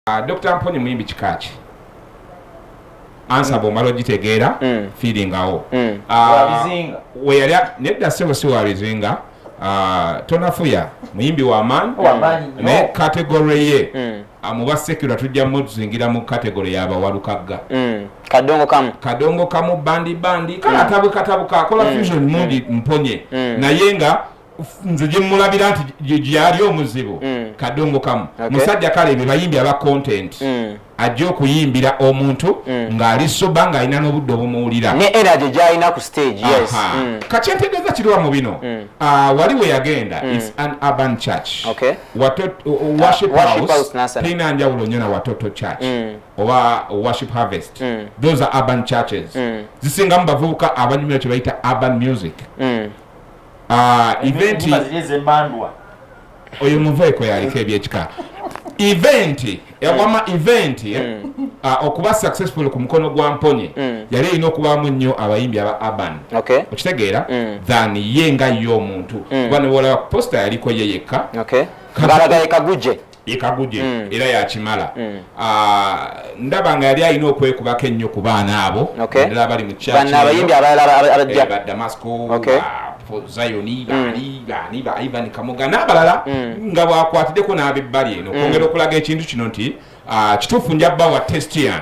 Ah, Dr. Mponye muyimbi kikaaki ansa bwomala ogitegeera mm. fiiringawo mm. ah, weyali nedda sebo si wabizinga ah, tonafuya muyimbi wamaani naye kategory ye mm. muba sekula tujja muzingira mu kategory yabawalukagga kadongo kamu kadongo kamu bandi bandi kale atabuka tabuka akola fusion mundi mponye naye nga nze gyemulabira nti gyali omuzibu mm. kadongo kamu musajja kale ebyo bayimbi aba content mm. ajja okuyimbira omuntu mm. ng'ali soba ng'alina n'obudde obumuwulira ne energy gyalina ku stage yes mm. kati entegeeza kiriwa mu bino mm. ah, wali we yagenda mm. is an urban church okay. worship uh, house tirina njawulo nnyo na watoto church mm. oba worship harvest mm. those are urban churches mm. zisingamu bavubuka abanyumira kye bayita urban music mm. Ah, eventi oyo muveeko yaliko ebyekika eventi yawama eh, eventi eh, mm. ah, okuba successful ku mukono gwa mponye mm. yali erina okubamu nnyo abayimbi aba urban okitegeera mm. than ye nga ye omuntu kuba newolaba posta yaliko ye yekka yekaguje mm. era yakimala mm. Ah, ndaba nga yali alina okwekubako ennyo ku baana abo endala abali mu kyakiabayimbi abalalaabajja eh, badamasco zayoni mm. bani bani ba ivan kamuga n'abalala nga bwakwatiddeko n'abebbali eno okwongera okulaga ekintu kino nti ah, kituufu njabba wa testian